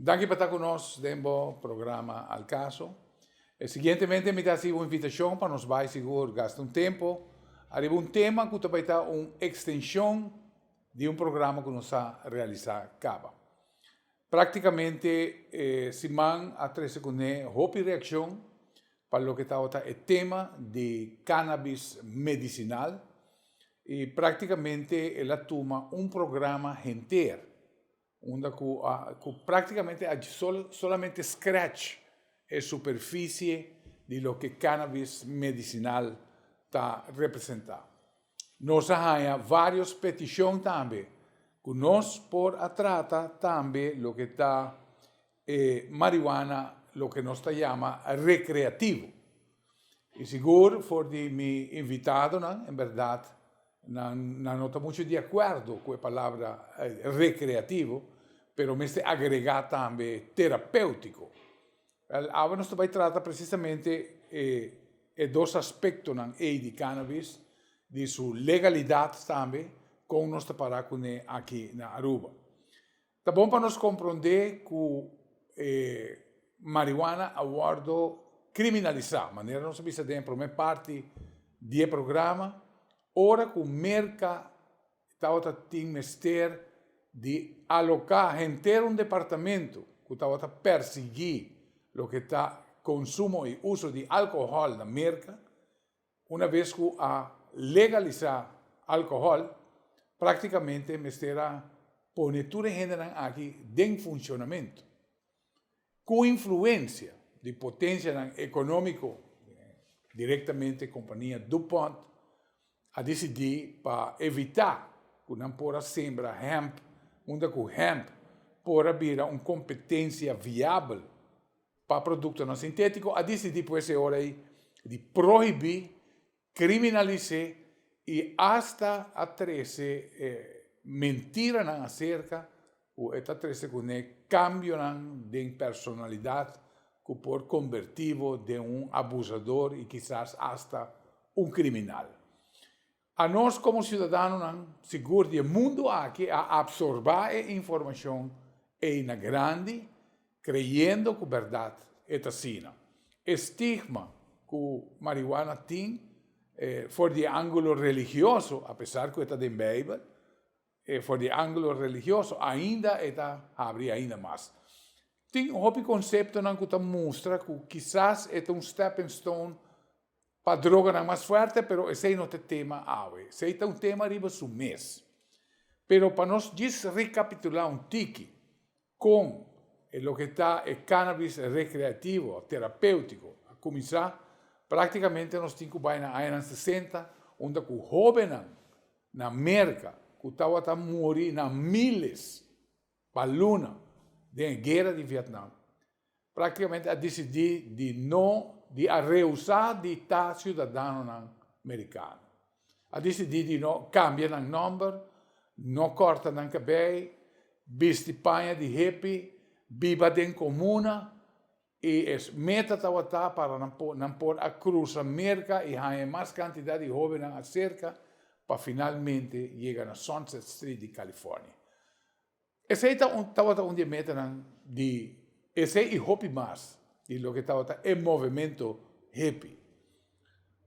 Danki pa ta ku nos den bo programa Al Caso. E siguientemente mi ta hasi un invitashon pa nos bai sigur gasta un tempu ariba un tema ku ta bai ta un ekstenshon di un programa ku nos sa realisá kaba. Práktikamente e siman a trese kuné hopi reakshon pa loke tabata e tema di kannabis medisinal i práktikamente el a tuma un programa henter. Unda cu a cu practicamente a sol, solamente scratch e superficie di loke cannabis medicinal ta representa. Nos a haña varios peticion tambe cu nos por a trata tambe loke ta. E marihuana loke nos ta yama recreativo. Y sigur for di mi invitadonan, en berdad nan nan no ta mucho di acuerdo cu e palabra recreativo, pero mester agrega tambe terapeutico. Wel, awe nos ta bay trata precisamente e e dos aspectonan ey di cannabis, di su legalidad tambe, con nos ta para cune aki na Aruba. Ta bon pa nos komprondé ku e marihuana a wòrdu kriminalisá, manera nos a bisa den e promé parti di e programa, ora ku Merka tabata tin mester di aloká henter un departamentu ku tabata pèrsiguí loke ta konsumo i uso di alkohòl na Merka. Una bes ku a legalisá alkohòl, práktikamente mester a pone tur e hendenan aki den funshonamentu. Ku influensia di potensianan ekonómiko, direktamente kompania DuPont, a disidí pa evitá ku nan por a sembra hemp unda ku hemp por a bira un kompetensia viabel pa produktonan sintétiko a disidí pues e ora ei di prohibí, kriminalis'é i asta a trese e mentiranan aserka ku e ta trese kuné kambionan den personalidat ku por kombertibo den un abusador i kisas asta un kriminal. A nos komo siudadanonan sigur di e mundu aki a apsorbá e informashon ei na grandi kreyendo ku bèrdat e ta asina. E stigma ku marihuana tin for di e ángulo religioso, apesar ku e ta den Beibel, for di e ángulo religioso ainda e ta habri ainda mas. Tin un hopi konseptonan ku ta mustra ku kisas e ta un stepping stone Pa droganan mas fuerte, pero esei no ta e tema awe. Esei ta un tema riba su mes. Pero pa nos djis recapitulá un tiki con e loke ta e cannabis recreativo, terapeutico, a cuminsá, practicamente nos tin cu bai na añanan sesenta, unda cu hobennan na Merca cu tawata muri na miles, Pa luna, den e guera di Vietnam, práktikamente a disidí di no di a rehusá di ta siudadanonan merikano. A disidí di no kambia nan nòmber, no kòrta nan kabei, bisti paña di hepi, biba den komuna. I es meta tabata pa nan por a crusa Merca y haña e mas cantidad di hobennan acerca pa finalmente yega na Sunset Street di California. Esey tabata un di e metanan di esey y hopi mas di loke tabata e movemento hepi.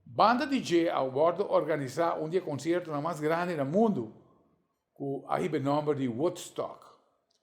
Banda di dje a wordo organisa un di e conciertonan mas grandi na mundo cu a hiba e nomber di Woodstock.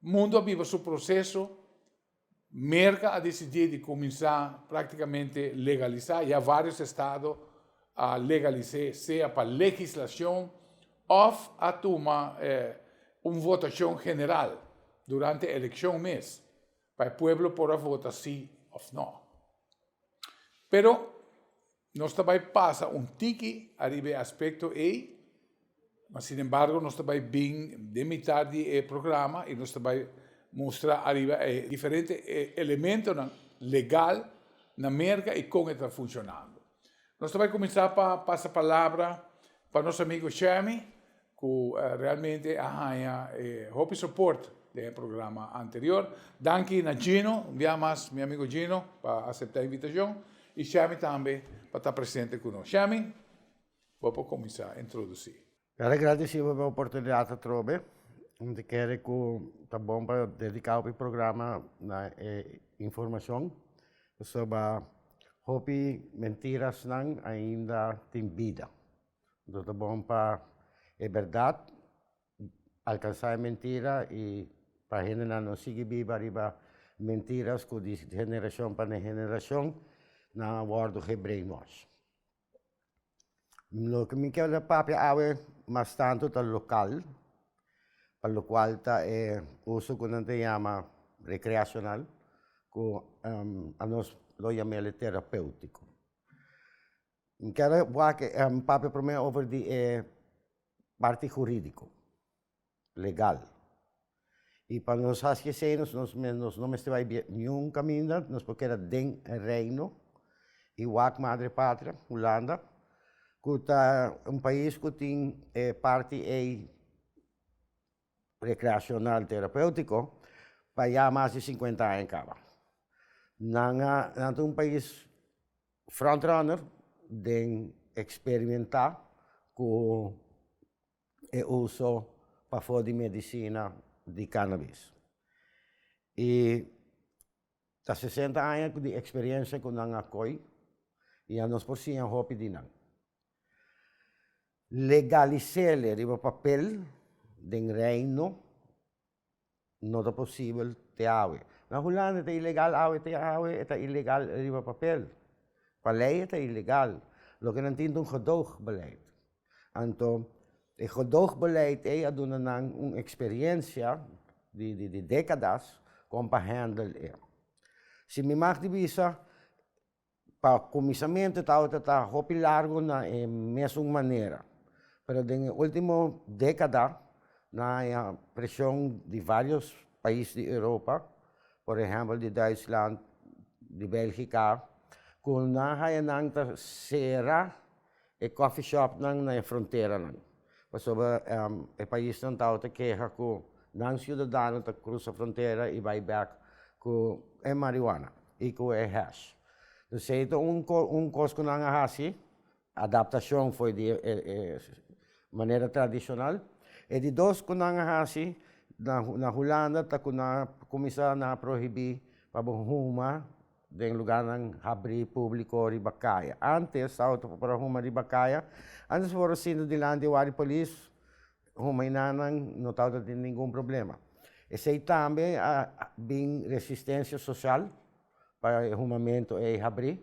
Mundo a biba su proseso, Merka a decidí di kuminsá práktikamente legalisá, ya vários estado a legalis'é sea pa legislashon òf a tuma un votashon general durante elekshon mes pa e pueblo por a vota sí òf nò. Pero Nos ta bai pasa un tiki ariba e aspekto ei, ma sinembargo nos ta bai bin den mitar di e programa i nos ta bai mustra ariba e diferente elementonan legal na Merka i kon e ta funshonando. Nos ta bai kuminsá pa pasa palabra pa nos amigu Shemy. cu realmente a haña e hopi soport den e programa anterior. Danki na Gino, un bia mas mi amigo Gino pa acepta e invitacion y Shami tambe pa ta presente cu nos. Shami, bo por cuminsa introduci. Bai ta gradici pa e oportunidad atrobe, mi ta kere cu ta bon pa dedica hopi programa na e informacion, pasobra hopi mentiras nan ainda tin bida. Nos ta bon pa e berdad, alcansa e mentira y pa hendenan no sigui biba riba mentiras cu di generacion pa den generacion nan a wordo ge brainwash. Loke mi kel papia awe mas tanto ta local, pa lo cual ta e uso cu nan ta yama recreacional cu anos lo yam'ele terapeutico. N kere wak papia prome over di e parti huridiko, legal, i pa nos haske esei nos no mester bai bia niun kaminda nos por keda den reino i wak madre patria hulanda ku ta un pais ku tin e parti ei Rekreashonal Terapeutiko pa ya mas di sinkuenta aña kaba. Nan a nan ta un pais front runner den eksperimentá ku e uso pafó di medisina di kannabis. I ta sesenta aña di eksperiensia ku nan a koi i ya nos por siña hopi di nan. Legalisele riba papel den Reino no ta posibel te awe. Na Hulanda e ta ilegal awe, te awe e ta ilegal riba papel. Pa lei e ta ilegal, loke nan tin ta un gedoogbeleid. Anto e gedoogbeleid ei a duna nan un experiencia di di di decadas kon pa handle e. Si mi mag di bisa, Pa kuminsamentu e tabata ta hopi largu na e mesun manera, pero den e ultimo dekada nan a haña preshon di vários pais di Europa, por ehèmpel di Duitsland, di Bèlgika, ku nan haña nan ta sera. E coffee shopnan na e fronteranan, pasobra e paisnan tawata keha ku nan siudadano ta krusa frontera i bai bek ku e marihuana i ku e hash. Dus ei ta un un kos ku nan a hasi adaptashon for di e manera tradishonal. E di dos ku nan a hasi na Hulanda ta ku nan a kuminsá nan a prohibí pa bo huma den lugarnan habrí públiko riba kaya. Ante e South por a huma riba kaya, ante su por a sinta dilanti e wari polis, huma i nannan no tabata tin ningun problema. Esei tambe a bin resistensia sosial pa e humamentu ei habrí.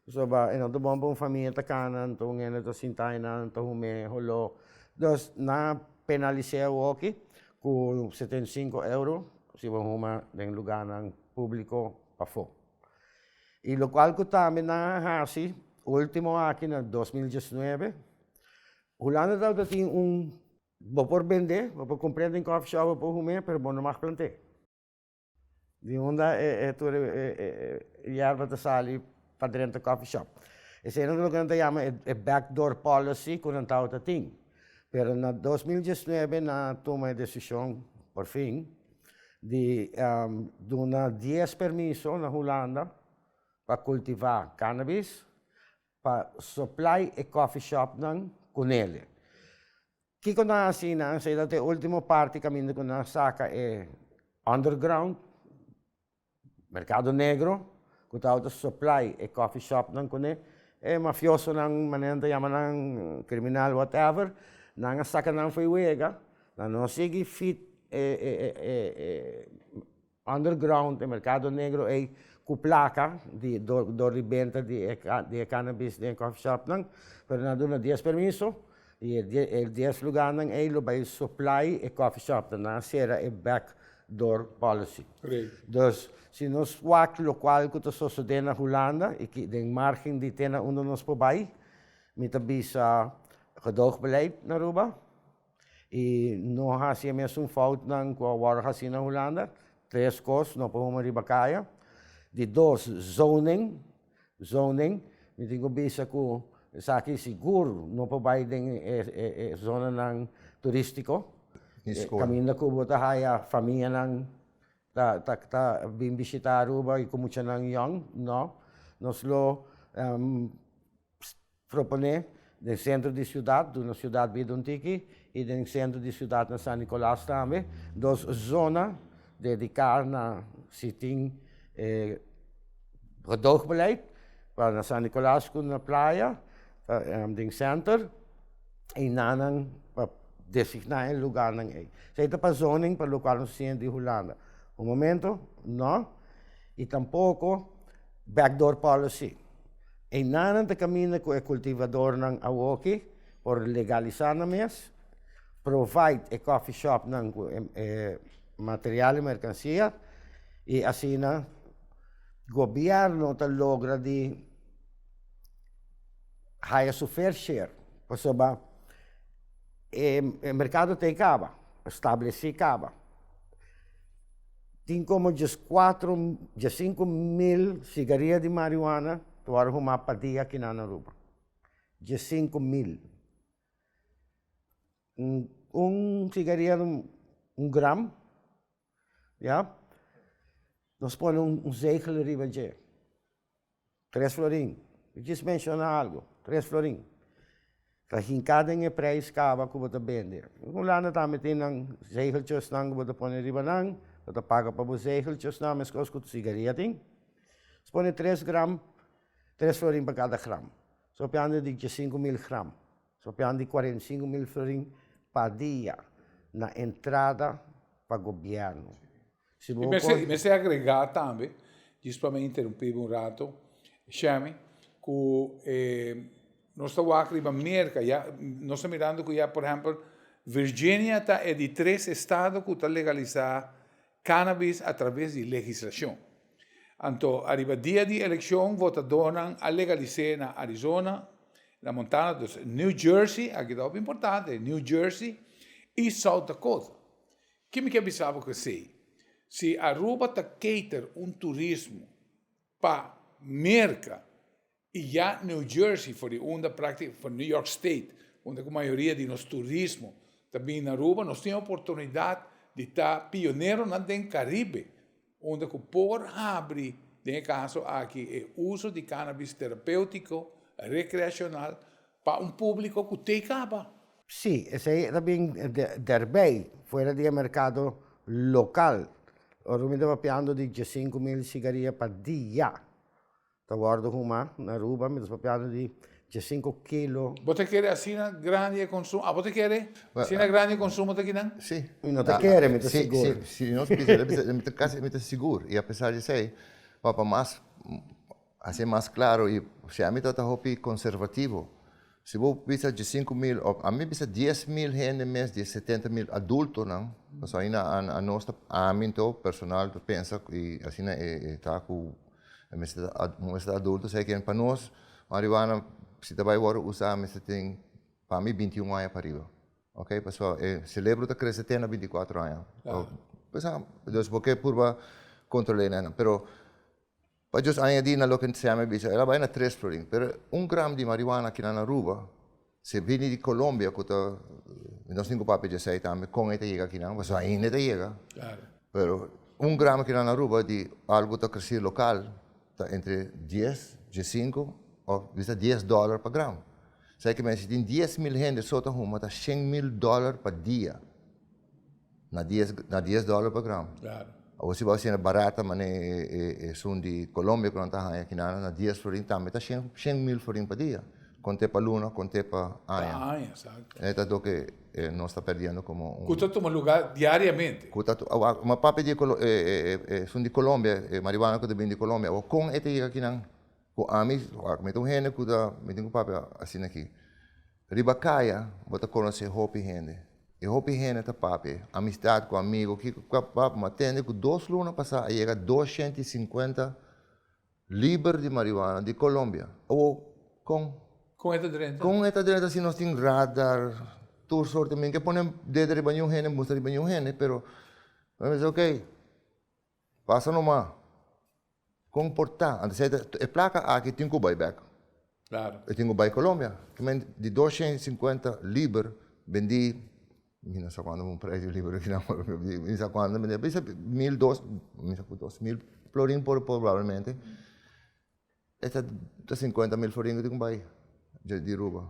Pasobra e nan ta bon pa un famia ta kana, nan ta un hende ta sinta einan, ta hum'é holó. Dus nan a penalis'é awoki ku setenta i sinku euro si bo huma den lugarnan públiko. Pafó. I lokual ku tambe nan a hasi último aki na dos mil diesnuebe, hulanda tabata tin un bo por bendé, bo por kumpré den kòfi shòp, bo por humé, pero bo no mag plant'é. Di unda e tur e yerba ta sali pa drenta coffee shop eseinan ta loke nan ta yama e back door policy ku nan tawata tin pero na dos mil diesnuebe nan a tuma e desishon por fin di duna dies permiso na Hulanda pa kultivá kannabis pa supply e coffee shopnan ku nele kiko nan a hasi nan esei ta e ultimo parti kaminda ku nan a saka e underground. Merkado negro ku ta outa supply e coffee shopnan kuné e mafiosonan manera nan ta yama nan kriminal whatever nan a saka nan fo'i wega nan no sigui feed e under ground e merkado negro ei ku plaka di dor di benta di e cannabis den coffee shopnan pero nan a duna dies permiso. I e dies luganan ei lo bai soplai e coffee shopnan na sera e back door policy. Dus si nos wak locual cu ta sosode na Hulanda i ki den margen di tena unda nos por bai, mi ta bisa gedoogbeleid na Aruba i no haci e mesun foutnan cu a worde haci na Hulanda, tres cos no por huma riba caya, di dos zoning. zoning mi tin ku bisa ku esaki sigur no por bai den e zonanan turistiko kaminda ku bo ta haya famianan ta bin bishita aruba y ku muchanan yòn no nos lo Proponé den sentro di siudat, duna siudat bida un tiki, i den sentro di siudat na San Nicolas tambe, dos zona dediká na si tin gedogbeleid, pa na San Nicolas ku na playa, den senter, i nanan pa designá e lugarnan ei. Esei ta pa zoning pa lokual nos siña di Hulanda. Bo momento, nò, i tampoko backdoor policy. Einanan ta kaminda ku e kultivadornan awoki por legalisá nan mes, provide e kòfi shòpnan ku e material i merkansia i asina gobièrnu ta logra di haya su fair share pasobra e merkado ten kaba, stablesí kaba. Tin como djes cuatro, djes cinco mil sigaria di marihuana ta wòrdu humá pa dia aki na Aruba. Djes cinco mil. Un sigaria ta un gram, ya. Nos pone un zegel riba dje. Tres florin, yu djis menshoná algu, tres florin, ta hinká den e preis kaba ku bo ta bende, en Hulanda tambe tin nan zegeltjesnan ku bo ta pone riba nan, bo ta paga pa bo zegeltjesnan, meskos ku sigaria tin, so pone tres gram, tres florin pa kada gram, so piande di djesinku mil gram, so pian di kuarenta i sinku mil florin pa dia na entrada pa gobièrnu. Si bo por. I mester agregá tambe, djis pa mi interumpiba un rato, Shemy, ku e nos ta wak riba Merka ya, nos ta mirando ku ya por ehèmpel Virginia ta e di tres estado ku ta legalisá cannabis a traves di legislashon. Anto ariba dia di elekshon votadónan a legalis'é na Arizona, na Montana, dus New Jersey, aki ta hopi importante, New Jersey i South Dakota. Ke mi ke bisa bo ku esei, si Aruba ta cater un turismo pa Merka y ya New Jersey for di unda praktica for New York State unda ku mayoria di nos turismo ta bin na Aruba nos tin oportunidad di ta pioneronan den Caribe Unda cu por habri den e caso aki e uso di cannabis terapeutico recreacional pa un publico cu tey caba. Sí, esey ta bin derbey, fuera di e mercado local. Ora cu mi ta papiando di djasinku mil sigaria pa dia. Ta wordo huma na Aruba mientras bo piano di dje sinku kilo. Bo ta kere asina grandi e konsum? A bo ta kere asina grandi e konsumo ta kinan? Sí. Mi no ta kere, mi ta sigur. Sí, nos bisa, mi ta, mi ta kasi, mi ta sigur. I apesar di esei, pa, pa mas hasi mas klaro i siempre mi tabata hopi konservativo. Si bo bisa dje sinku mil òf ami bisa dies mil hende mes di e setenta mil adultonan, pasobra aina a nos ta, ami anto personal ta pensa ku i asina e ta ku e mester ta a bo mester ta adulto sa e ken pa nos marihuana si ta bai wòrdu usá mester tin pa mi binti un aña pariba oke pasobra e selebro ta krese te na binti kuatro aña òf pues ha dus bo ke purba kontrole nan pero. Pa djos añadí na loke Ntseme bisa, el a bai na tres florin. Pero un gram di marihuana ki nan a ruba, si e bini di Colombia, ku ta, nos tin ku papia di esei tambe, kon e ta yega akinan? Pasobra ainda e ta yega. Pero un gram ki nan a ruba di algu ku ta kresi lokal, ta entre dies, diesinko òf bisa dies dòler pa gram. Sa e ke mester, si tin dies mil hende so ta huma, ta shen mil dòler pa dia. Na dies na dies dollar pa gram. Claro. Awor si bo a hasienda barata mane e, e, esun di Colombia ku nan ta haña aki nana, na dies florin tambe ta shen, shen mil florin pa dia. Kont'é pa luna, kont'é pa Pa aña. aña, exacto. E ta doke e, nos ta perdiendo komo Ku un ta tuma lugá diariamente. ku ta tu- a- a- ma papia di e, Colo- e, e, e, e, esun di Colombia, e marihuana ku ta bini di Colombia. Awor kon e ta yega aki nan? Ku ami, mi ta un hende ku ta, mi tin ku papia asina aki. Riba kaya bo ta konosé hopi hende. E hopi hende ta papia amisdat ku amigu, kiko ku kap kap, ma tende ku dos luna pasá a yega doshienta i sinkuenta liber di marihuana di Kolombia. Awo kon? Kon e ta drenta? Kon e ta drenta si nos tin radar, tur sorte. Mi no ke pone dedo riba niun hende, musta riba niun hende, pero mi a bisa, ok. Pasa nomá kon por ta. Anto esei ta e plaka aki tin ku bai bèk. Klaro. E tin ku bai Kolombia. Kimente di dos shen sinkuenta liber bendí mi no sa kuantu un preisio di liber akinan pero mi sa kuantu bendía bisa mil dos mi sa ku dos mil florin probablemente. E ta ta sinkuenta mil florin ku tin ku bai dje di ruba.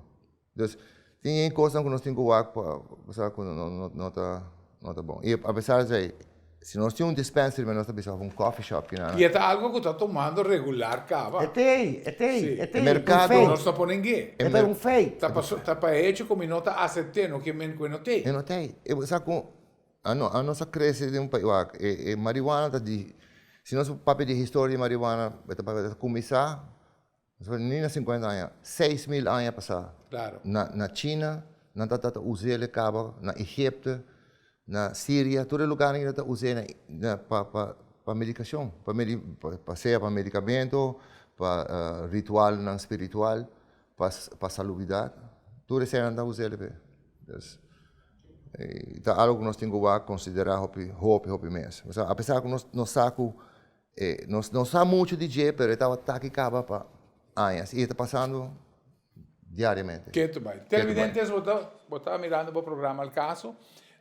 Pues, tin e kosnan ku nos tin ku wak pa sa ku no no no ta no ta bon. I apesar esei, si nos tin un dispenser riba nos ta bisa òf un coffee shop ki nan. I e ta algu ku ta tomando regular kaba. E te, e te, e te. E merkado. Pero nos ta ponen ge. E ta un fei. Ta pa so ta pa hecho komo i no ta asept'e no ke men ku e no tei. E no tei. E bo sa ku. Ano anos a crece den un pais wak e e marihuana ta di si nos papia di historia di marihuana e ta papia ta cuminsa ni na cincuenta aña seis mil aña pasa na na china nan ta ta uzel e caba na egipto na siria tur e lugar nan e ta use na pa pa pa medicacion pa medi pa sea pa medicamento pa ritual nan spiritual pa salubidat tur esnan ta usa el'e pe dus e ta algu ku nos tin ku wak konsiderá hopi hopi hopi mes a pesar ku nos sa ku e no sa muchu di dje pero e tabata taki kaba pa añas i e ta pasando diariamente. Ketu bai televidentes bo ta bo ta mirando bo programa el caso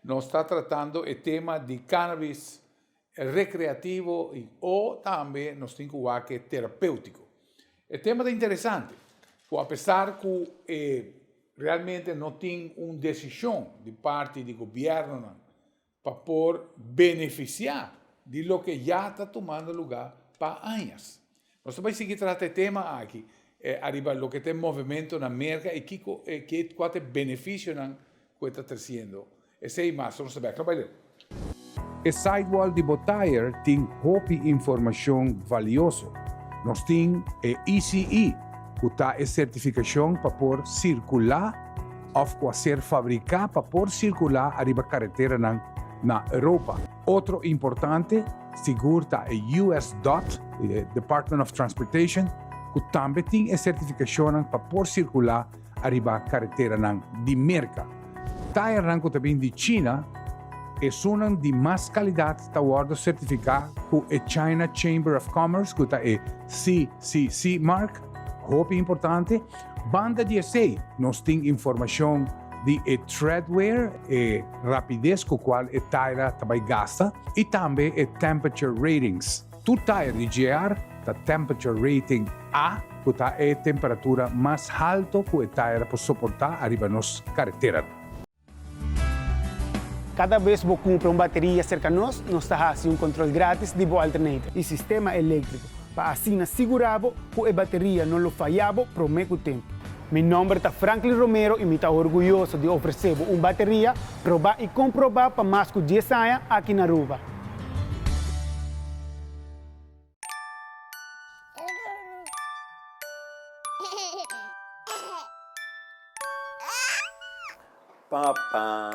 nos ta tratando e tema di cannabis Recreativo y o tambe nos tin cu wak e terapeutico. E tema ta interesante cu apesar cu e realmente no tin un decision di parti di gobiernonan pa por beneficia di loke ya ta tumando lugar pa añas. Nos ta bai sigui trata e tema aki ariba loke ta e movemento na Merka i kiko e ke kua ta e benefisionan ku e ta tresiendo. Esei i mas tur nos ta bek. No bai leu. E sidewall di bo tire tin hopi informashon valioso. Nos tin e ECE ku ta e sertifikashon pa por sirkulá òf ku a ser fabriká pa por sirkulá ariba kareteranan na Europa. Otro importante sigur ta e US. dot, Department of Transportation, ku tambe tin e sertifikashonnan pa por sirkulá ariba kareteranan di Merka. Tairnan ku ta bin di China, esunnan di mas kalidat ta wòrdu sertifiká ku e China Chamber of Commerce, ku ta e CCC mark, hopi importante. Banda di esei nos tin informashon di e treadwear, e. rapides ku kual e taira ta bai gasta i tambe e temperature ratings. Tur tair di JR ta temperature rating A ku ta e temperatura mas halto ku e taira por soportá ariba nos kareteranan. Kada bes bo kumpra un bateria serka nos, nos ta hasi un kontrol grátis di bo alternator i sistema eléktriko. pa asina sigurá bo ku e bateria no lo fayá bo promé ku tempu. Mi nòmber ta Franklin Romero i mi ta orguyoso di ofresé bo un bateria probá i komprobá pa mas ku dies aña aki na Aruba. Papá.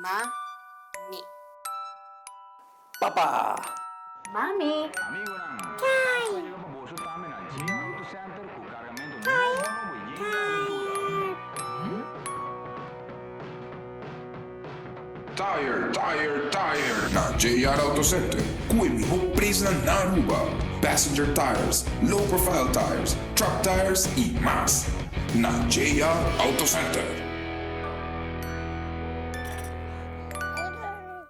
Mami. Papa! Mami! Tire! Tire! Tire! Na JR Auto Center cu e miho presnan na Aruba, passenger tires, low profile tires, truck tires y mas. Na JR Auto Center.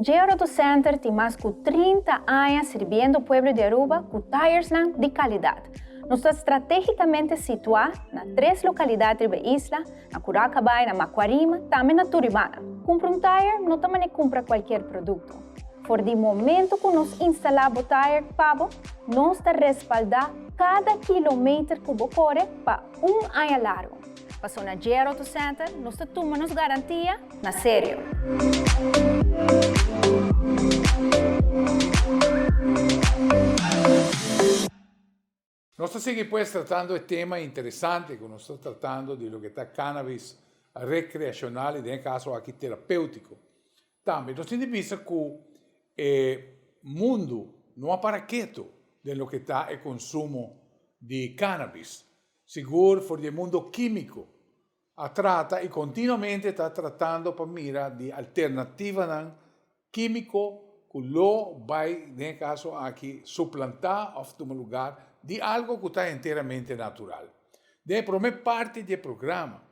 Dje Roto Center tin mas ku trinta aña sirbiendo pueblo di Aruba ku tairsnan di kalidad. Nos ta strategicamente situá na tres lokalidad riba e isla, na Curaca Bay, na Macuarima, tambe na Turibana. Kumpra un taier no ta manera kumpra kualkier produkto. For di momento cu nos instala bo tire pa bo, nos ta respalda cada kilometer cu bo core pa un aña largo. Pasobra J-R Auto Center nos ta tuma nos garantia na serio. Nos ta sigui pues tratando e tema interesante cu nos ta tratando di loke ta cannabis recreacional y den e caso aki terapeutico. Tambe nos tin di bisa cu e mundo no a para keto den loke ta e consumo di cannabis. Sigur for di e mundo quimico a trata y continuamente ta tratando pa mira di alternativanan Químico cu lo bay den e caso aki suplantá of tuma lugar di algo cu ta enteramente natural. Den e prome parti di e programa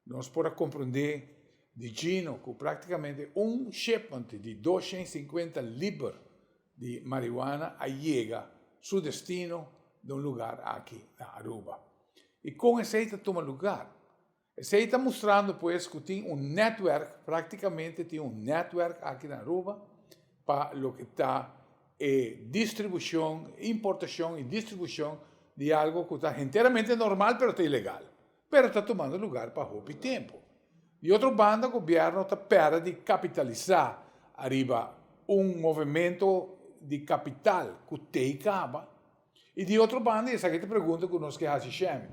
nos por a comprendé di Gino cu practicamente un shipment di doshent i sinkuenta liber di marihuana a yega su destino den un lugar aki na Aruba. I con esey ta tuma lugar? Esei ta mustrando pues cu tin un netwerk, practicamente tin un netwerk aki na Aruba pa loke ta e distribucion, importacion y distribucion di algo cu ta enteramente normal pero ta ilegal, pero ta tumando lugar pa hopi tempo. Di otro banda gobierno ta pera di capitalisa ariba un movemento di capital cu tey caba I di otro banda, i esaki ta pregunta ku nos ke hasi shemi.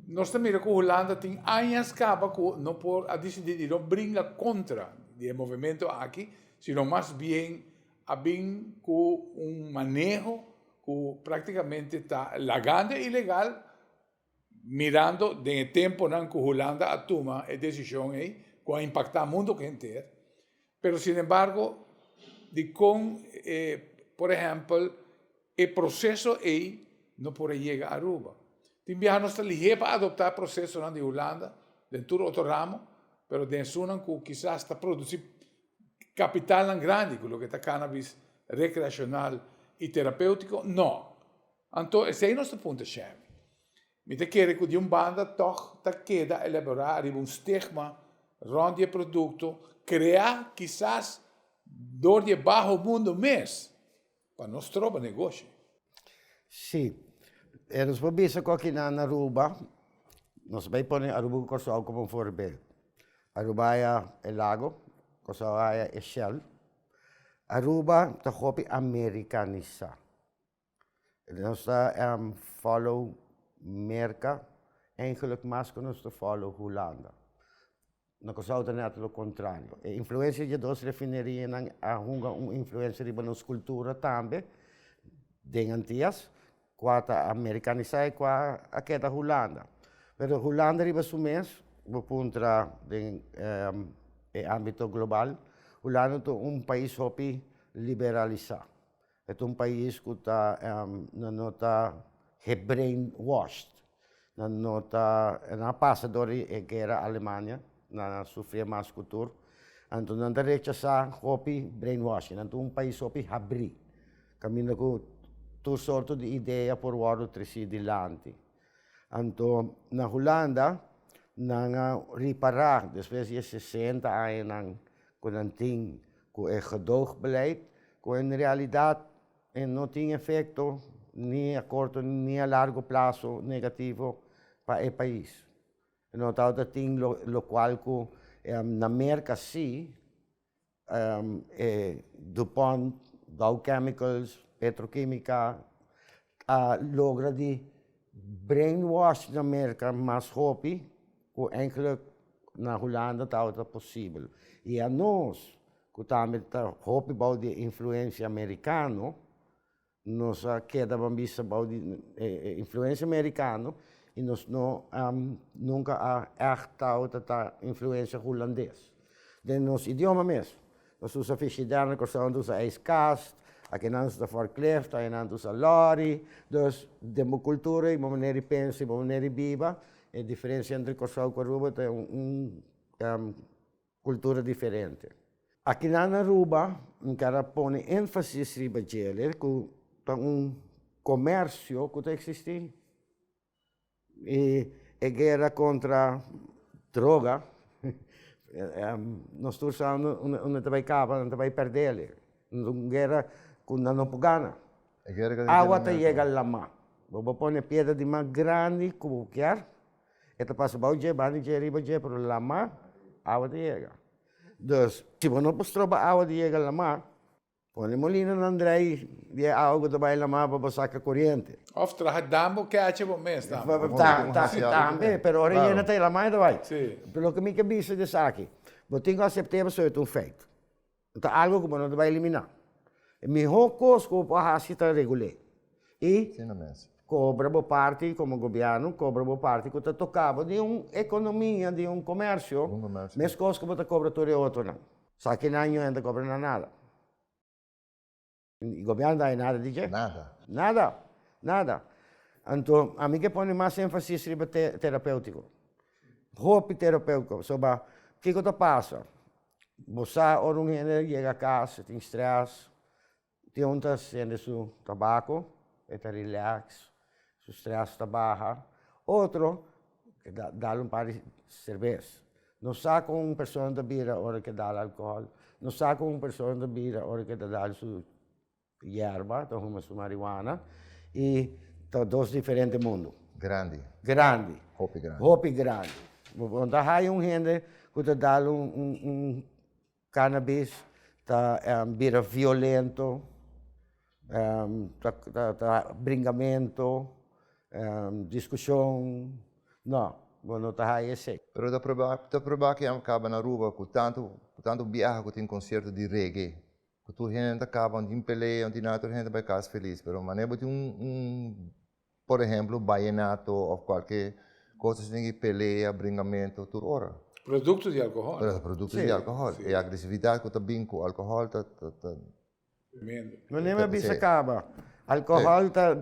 Nos ta mira ku Hulanda tin añas kaba ku no por a disidí di no bringa kontra di e movementu aki, sino mas bien a bin ku un maneho ku praktikamente ta lagando ilegal. Mirando den e temponan ku Hulanda a tuma e desishon ei ku a impaktá mundu henter, pero sinembargo dikon e por ehèmpel e proseso ei no por a yega Aruba? Tin biaha nos ta lihé pa adoptá prosesonan di Hulanda den tur otro ramo, pero den esunnan ku kisas ta produsí kapitalnan grandi ku loke ta cannabis rekreashonal i terapéutiko, no. Anto esei nos ta punta Shami. Mi ta kere ku di un banda tòg ta keda elaborá riba un stigma rònt di e produkto kreá kisas dor di e baho mundo mes pa no stroba negoshi. Sí, e nos por bisa ku akinan na Aruba nos bai pone Aruba ku Kòrsou komo un forbel. Aruba haya e lago, Kòrsou haya e shèl. Aruba ta hopi amerikanisá. Nos ta follow merka eigenlik mas ku nos ta follow hulanda na kuzou ta net lo kontrario e influensia di e dos refinerianan a hunga un influensia riba nos kultura tambe den antias kua ta amerikanisá i kua a keda hulanda pero hulanda riba su mes bo puntra den e ámbito global hulanda ta un pais hopi liberalisá. E ta un pais ku ta nan no ta get brain washed nan no ta nan a pasa dor di e guera alemania nan a sufria mas ku tur anto nan ta rechasá hopi brain washing nan ta un pais hopi habrí kaminda ku tur sorto di idea por wòrdu tresí dilanti. Anto na Hulanda nan a ripará despues di e sesenta añanan ku nan tin ku e gedoogbeleid ku en realidat e no tin efekto ni a korto ni a largo plaso negativo pa e pais. E no tabata tin lokual ku na Merka si e dupont, dow chemicals, petrokimika a logra di brain wash na merka mas hopi ku eigenlik na hulanda tabata posibel i anos ku tambe ta hopi bou di e influensia merikano Nos a keda ban bista bou di e influensia merikano i nos no nunka a ègt tabata ta influensia hulandes. Den nos idioma mes, nos usa frishider, na Kòrsou anto usa ijskast, akenan ta fòrklift, ayenan ta usa lòri. Dus den bo kultura i bo manera di pensa i bo manera di biba e diferensia entre Kòrsou ku Aruba ta un. Kultura diferente. Akinan na Aruba mi ta a pone énfasis riba djele ku ta un komersio ku ta eksistí. I e guera kontra droga nos tur sa unda ta bai kaba, nan ta bai pèrdele. Es un guera ku nan no por gana. Awa ta yega lamá. Bo por pone piedra di mas grandi ku bo kier. E ta pasa bao dje banda dje riba dje pero laman awa ta yega dus si bo no por stroba awa di yega laman pone molinonan drai di e awa ku ta bai laman pa bo saka koriente Of traha dam bo keche bo mes tambe. tambe pero ora yena ta laman e ta bai loke mi ta bisa di esaki bo tin ku asepte pasobra e ta un feit. ta algo ku bo no ta bai eliminá. E mihó kos ku bo por hasi ta regul'é i kobra bo parti komo gobièrnu, kobra bo parti ku ta toká bo di un ekonomia, di un komèrsio, meskos ku bo ta kobra tur e otronan. Sa kinan yu hende ta kobra na nada. I gobierno no ta hay nada di ke? Nada. Nada, nada. Anto a mi ke pone mas enfasis riba te terapeutiko. Hopi terapeutiko. So ba, kiko ta pasa? Bo sa ora un hende yega akas, e tin stress, tin un ta hende su tabako, e ta relax. su stress ta baha, otro ke da dal un par di serbes, no sa kon un persona ta bira ora ke dal alkohòl, no sa kon un persona ta bira ora ke ta dal su yerba, ta huma su mariwana, i ta dos diferente mundu. Grandi. Grandi. Hopi grandi. Hopi grandi. Bo ta haya un hende ku ta dal un Cannabis ta bira violento, ta bringamento, discusion, no, bo no ta haya esey. Pero ta proba, ta proba cu yam caba na Aruba cu tanto, cu tanto biaha cu tin concierto di reggae, cu tur hende ta caba, no tin pelea, no tin nada, tur hende ta bay casa feliz, pero mane bo tin un, un. Por ehemplo bayenato of kualke kos asina tin ki pelea, bringamento tur ora. Produkto di alkohòl. Pero ta produkto di alkohòl. E agresividat ku ta bin ku alkohòl ta. No neme bisa kaba. Alkohòl ta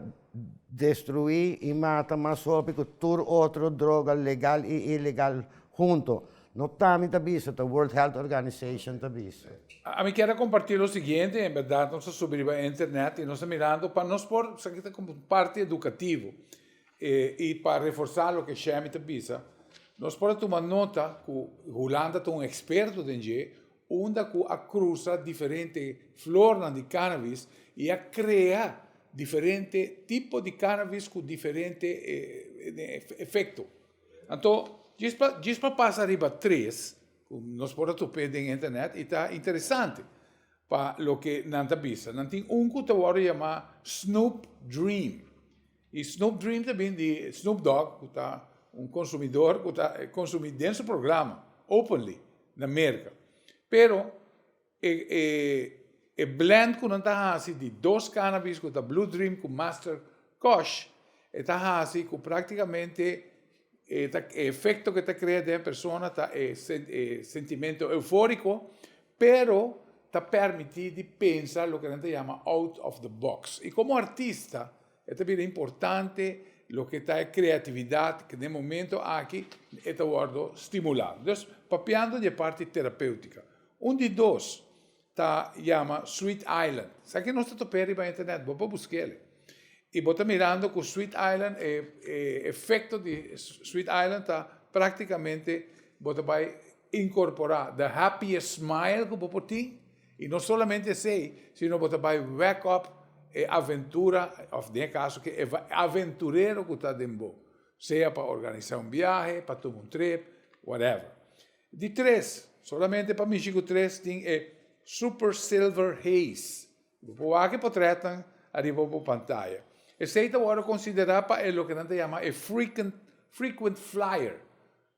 destruí i mata mas hopi ku tur otro droga legal i ilegal hunto. No ta mi ta bisa, ta World Health Organization ta bisa. A mi kier a comparti lo siguiente, en berdad nos a subi riba e internet y nos a mirando pa nos por, esaki ta como un parti educativo y pa reforsa loke Shemy ta bisa, nos por a tuma nota cu Hulanda ta un experto den dje, unda cu a crusa diferente flornan di cannabis y a crea diferente tipo di cannabis cu diferente efecto. Anto, djis pa djis pa pasa riba tres ku nos por a tup'é den internet i ta interesante pa loke nan ta bisa. Nan tin un ku ta wòrdu yamá Snoop Dream. I Snoop Dream ta bin di Snoop Dogg ku ta un konsumidor ku ta konsumí den su programa openly na Merka. Pero. E blend ku nan ta hasi di dos cannabis ku ta Blue Dream ku Master Kush e ta hasi ku praktikamente e efekto ku e ta krea den e persona ta e sentimentu eufóriko pero ta permití di pensa loke nan ta yama out of the box i komo artista. E ta bira importante loke ta e kreatividat ku den momentu aki e ta wòrdu stimulá. Dus papiando di e parti terapéutika, un di dos ta yama Sweet Island. Sa ke nos ta top'é riba internet, bo por busk'el. I bo ta mirando ku Sweet Island, e efekto di Sweet Island ta praktikamente bo ta bai inkorporá the happiest smile ku bo por tin, Y no solamente esey, sino bo ta bay wek up e aventura, of den e caso ke e aventurero cu ta den bo, sea pa organisa un biahe, pa tuma un trip, whatever. Di tres, solamente pa mishi cu tres tin e Super Silver Haze. Bo por wak e potretnan ariba bo pantaya. Esey ta wordo considera pa e loke nan ta yama e Frequent Flyer.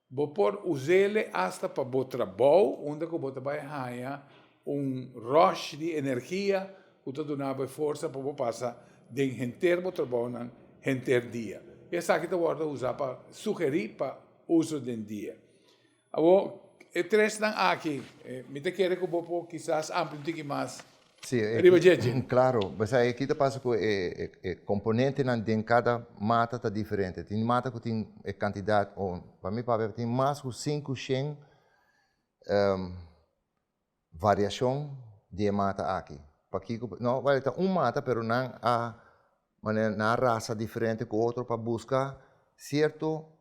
Bo por us'ele asta pa bo trabou unda ku bo ta bai haña un rush di energia ku ta duna bo e forsa pa bo pasa den henter bo trabounan henter dia. Esaki ta wòrdu usá pa sugerí pa uso den dia. Awor, e tresnan aki, mi ta kere ku bo por kisas amplia un tiki mas. riba djeidje. Sí, klaro. Pasobra akí ta pasa ku e komponentenan den kada mata ta diferente. Tin mata ku tin e kantidat, pa mi papia tin mas ku sinku shen variashon di e mata akí. Pakiko? No, wèl ta un mata pero nan a manera nan a rasa diferente ku otro pa buska sierto.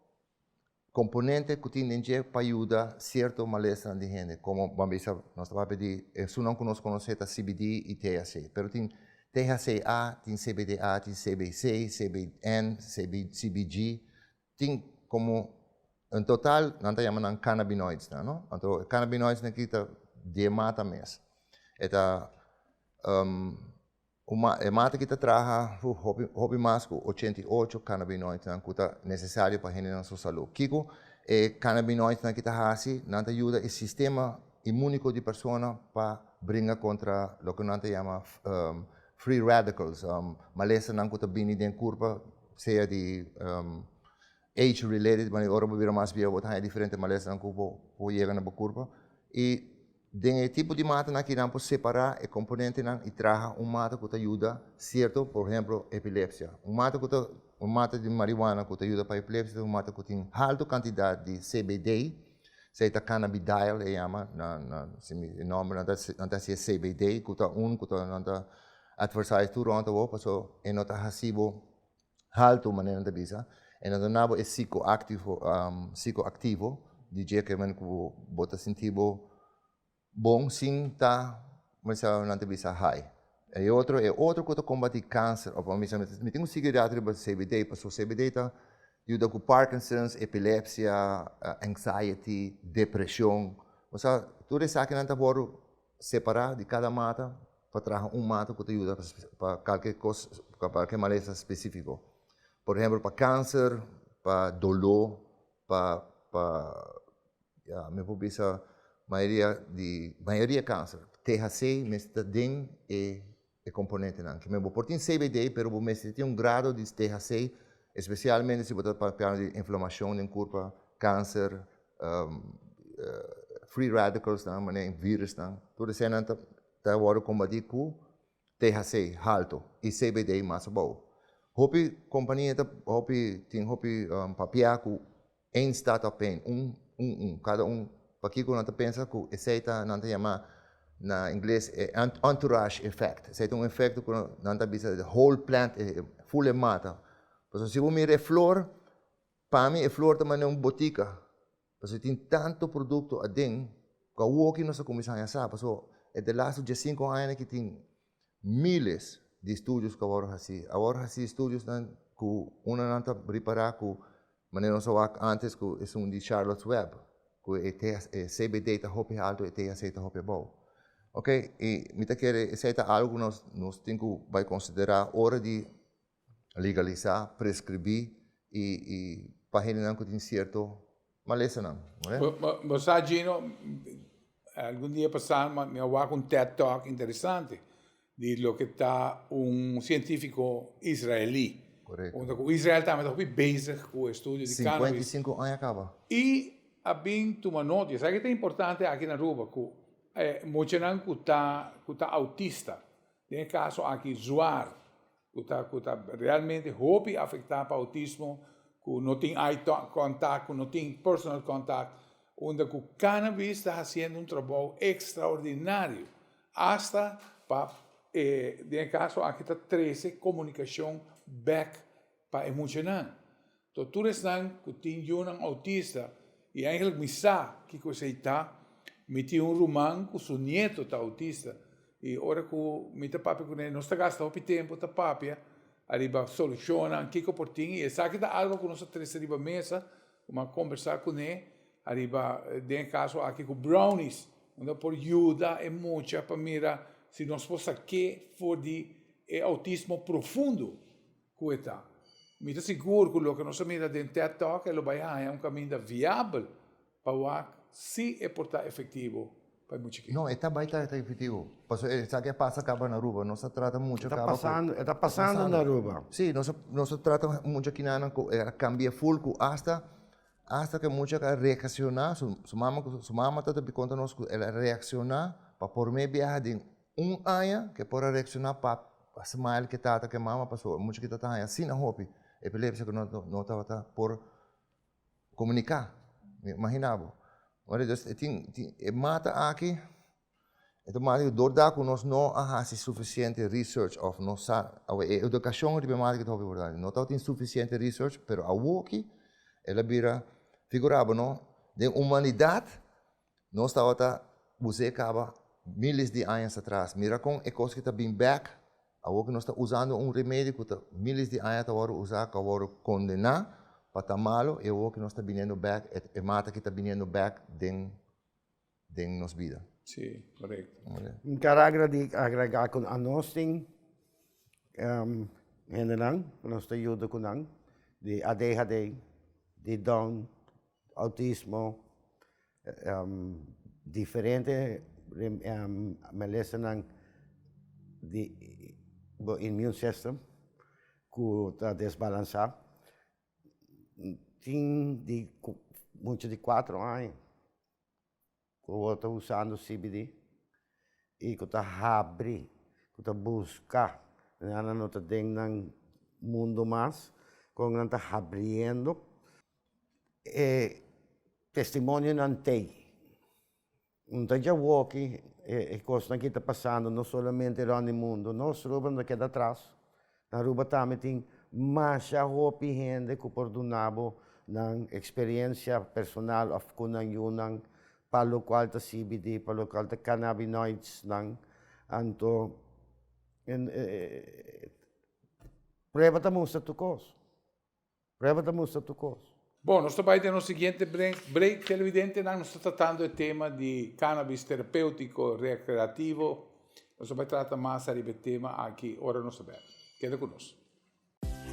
Componente cu tin den dje pa yuda cierto malesanan di hende, como bo a bisa nos ta papia di e sunan cu nos conoce ta CBD y THC, pero tin THCA, tin CBDA, tin CBC, CBN, CBG, tin como en total nan ta yama nan cannabinoids nan, no? Anto e cannabinoids nan aki ta diemata mes, e ta. Kuma e mata ki ta traha hopi hopi mas ku ochenta i ocho kanabinoidnan ku ta nesesario pa hendenan su salu. Kiko e kanabinoidnan ki ta hasi? Nan ta yuda e sistema imuniko di persona pa bringa kontra loke nan ta yama free radicals, malesanan ku ta bini den kurpa sea di age related, ora bo bira mas biehu bo ta haña diferente malesanan ku por yega na bo kurpa i Den e tipo di mata aki nan por separá e komponentenan i traha un mata ku ta yuda sierto, por ehemplo, epilepsia. Un mata ku ta un mata di marihuana ku ta yuda pa epilepsia ta un mata ku tin haltu kantidat di CBD, esei ta cannabidiol e yama na na simi e nòmber nan ta nan ta hasi e CBD ku ta un ku ta nan ta advertise tur rònt awor paso e no ta hasi bo haltu manera nan ta bisa e na dona bo e sikoaktivo sikoaktivo di dje ke manera ku bo ta sinti bo bon sin ta kua ta kua nan ta bisa hai e otro e otro ku ta kombati kanser òf bo bisa mi tin un sigerèt riba cbd pasobra cbd ta yuda ku parkinsons epilepsia anxiety depreshon osea tur esakinan ta wòrdu. Separá di kada mata pa traha un mata ku ta yuda pa kalke kos pa kalke malesa spesífiko. Por ehèmpel pa kanser, pa doló, pa pa ya mi por bisa mayoria di mayoria kanser THC mester ta den e. e komponentenan aki. Bo por tin CBD pero bo mester tin un grado di THC espesialmente si bo ta papia di inflamashon den kurpa, kanser, free radikalsnan, manera di virisnan, tur eseinan ta wòrdu kombati ku THC haltu i CBD mas abou. Hopi kompania ta hopi tin hopi papia ku Eén staat op één, un, un, un, kada un, pakico nan ta pensa cu esey ta, nan ta yama na ingles e entourage effect, esey ta un efecto cu nan ta bisa the whole plant e full e mata, pasobra si bo mira e flor, pa mi e flor ta manera un botica, pasobra tin tanto producto aden cu awoki nos a cuminsa haña sa, pasobra e de laatste diasinco aña na ki tin. Miles di studios ku a wòrdu hasí. A wòrdu hasí studiosnan ku unda nan ta ripará ku manera nos a wak ántes ku esun di Charlotte's Web ku e THC, e CBD ta hopi altu, e THC ta hopi abou. Oke, i mi ta kere esei ta algu ku nos tin ku bai konsiderá ora di Legalisá, preskribí i i pahinanan ku tin sierto malesanan. Bo sa Gino, algun dia pasá mi a wak un ted talk interesante di loke ta un sientífiko israelí. Korekto. Unda ku Israel tambe ta hopi bezig ku e studio di cannabis. Sinkuenta i sinku aña kaba. I a bin tuma nota. Yosaki ku ta importante aki na Aruba ku muchanan ku ta ku ta autista, den e kaso aki zwaar. Ku ta ku ta realmente hopi afektá pa outismo ku no tin eye kontak, ku no tin personal kontak, unda ku cannabis ta hasiendo un trabou ekstraordinario asta pa e den e kaso aki ta trese komunikashon bèk pa e muchanan. To tur esnan ku tin yunan outista i eigenlijk mi sa kiko esei ta. Mi tin un ruman ku su nieto ta outista i ora ku mi ta papia kuné nos ta gasta hopi tempu ta papia ariba solushonnan kiko por tin i esaki ta algo ku nos a trese riba mesa ku mi a kombersá kuné ariba den e kaso aki ku brownies unda por yuda e mucha pa mira si nos por sak'é for di e outismo profundo. Ku e ta? Mi ta sigur ku loke nos a mira den Ted Talk e lo bai haña un kaminda viabel pa wak si e por ta efektivo pa e mucha kende. No, e ta bai ta efektivo. Pasobra esaki a pasa kaba na Aruba. Nos a trata mucha kaba ku. E ta pasando na Aruba. Sí, nos a trata mucha kinanan ku e a kambia ful ku asta asta ku e mucha a reakshoná. Su mama ku su mama tata a konta nos ku el a reakshoná pa por mei biaha den. Un aña ke por a reakshoná pa a smile ke tata ke mama pasó e mucha ke ta ta haña asina hopi epilepsia ke no no tabata por komuniká imaginá bo ora dus e tin tin e mata aki e ta mata dor da ku nos no a hasi sufisiente research òf no sa awe e edukashon riba e mata aki ta hopi importante no tabatin sufisiente research pero awoki el a bira figurá bo no den humanidat Nos tabata bus'é caba miles di añas atras. Mira con e cos que ta bin bek, awor que nos ta usando un remedio cu ta miles di aña ta worde usa, cu a worde condena pa ta malo y awor que nos ta biniendo bek e mata que ta biniendo bek den den nos bida. Sí, correcto. N ta ragra di agrega cu anos tin hendenan cu nos ta yuda cu nan di adhd, di down. Autismo diferente melesenan di bo immune system ku ta desbalansa tin di mucha di cuatro aña. ku bo ta usando CBD y ku ta habri ku ta buska nan a no ta den nan mundo mas kon nan ta habriendo e testimonionan tei no ta djawoki e kosnan ki ta pasando no solamente rònt di mundo nos Aruba no ta keda atras. Aruba tambe tin masha hopi hende ku por duna bo nan eksperensia personal òf ku nan yu nan pa lokual ta CBD, pa lokual ta cannabinoids nan. Anto prueba ta mustra tu kos. Prueba ta mustra tur kos. Bon, nos ta bai den nos siguiente break. Televidentenan, nos ta tratando e tema di cannabis terapeutiko rekreativo. Nos ta bai trata mas ariba e tema aki ora nos ta bel. Keda ku nos.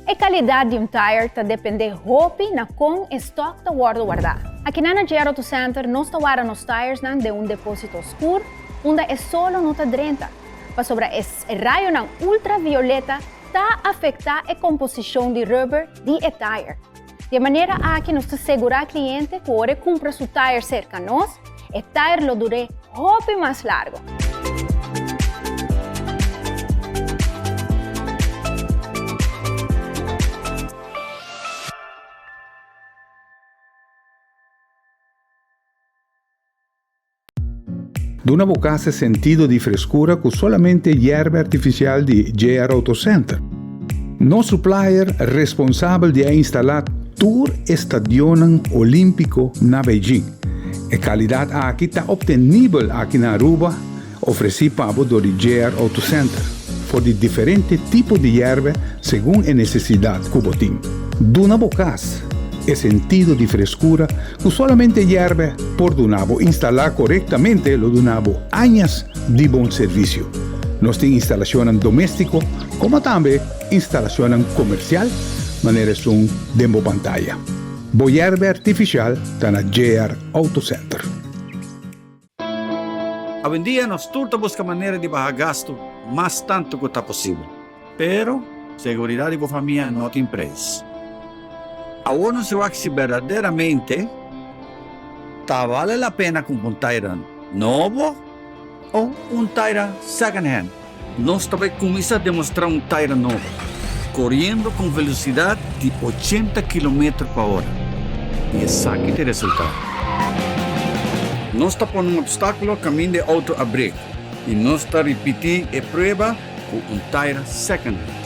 E kalidat di un tire ta dependé hopi na kon e stòk ta wòrdu wardá. Akinan na JR Auto Center nos ta warda nos tiresnan den un depósito oskur unda e solo no ta drenta, pasobra e rayonan ultravioleta ta afecta e composicion di rubber di e tire. Di e manera aki nos ta segura cliente cu ora e cumpra su tire cerca nos, e tire lo dure hopi mas largo. Duna bo casa e sentido di frescura cu solamente yerba artificial di JR Auto Center. Nos supplier responsabel di a instala tur e stadionnan Olimpico na Beijing. E calidad aki ta obtenibel aki na Aruba, ofreci pa bo door di JR Auto Center, for di diferente tipo di yerba segun e necesidad cu bo tin. Duna bo casa e sentido di frescura Cu solamente yerbe por duna bo instala corectamente lo duna bo añas di bon servicio. Nos tin instalacionnan domestico como tambe instalacionnan comercial manera esun den bo pantaya. Bo yerbe artificial ta na JR Auto Center. Awendia nos tur ta buska manera di baha gastu mas tantu ku ta posibel. Pero, seguridat di bo famia no tin preis. Awor nos a wak si berdaderamente ta bale la pena kumpa un Tayran nobo o un Tayran second hand. Nos ta bai kuminsá demostrá un Tyra nobo, koriendo ku un velosidat di ochenta kilometer pa ora. I esaki ta e resultado. Nos ta pone un opstákulo kaminda e outo a brek i nos ta ripití e prueba ku un Tyra secondhand.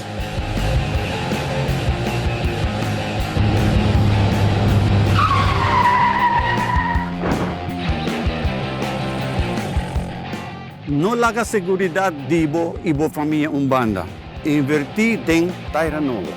No laga seguridat di bo i bo famia un banda. Invertí den Taira Nobo.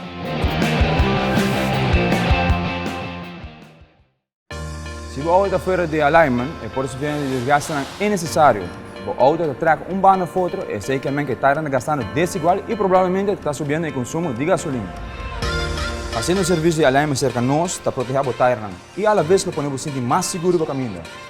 Si bo auto ta fuera di alignment, e por suficiente di desgastenan innesesario. Bo auto ta traca un banda of otro, esei ke men ku e taira ta gastando desigual i probablemente ta subiendo e konsumo di gasolina. Hasiendo un servisio di alignment serka nos ta protehá bo tairanan i a la bes lo pone bo sinti mas seguro pa kaminda.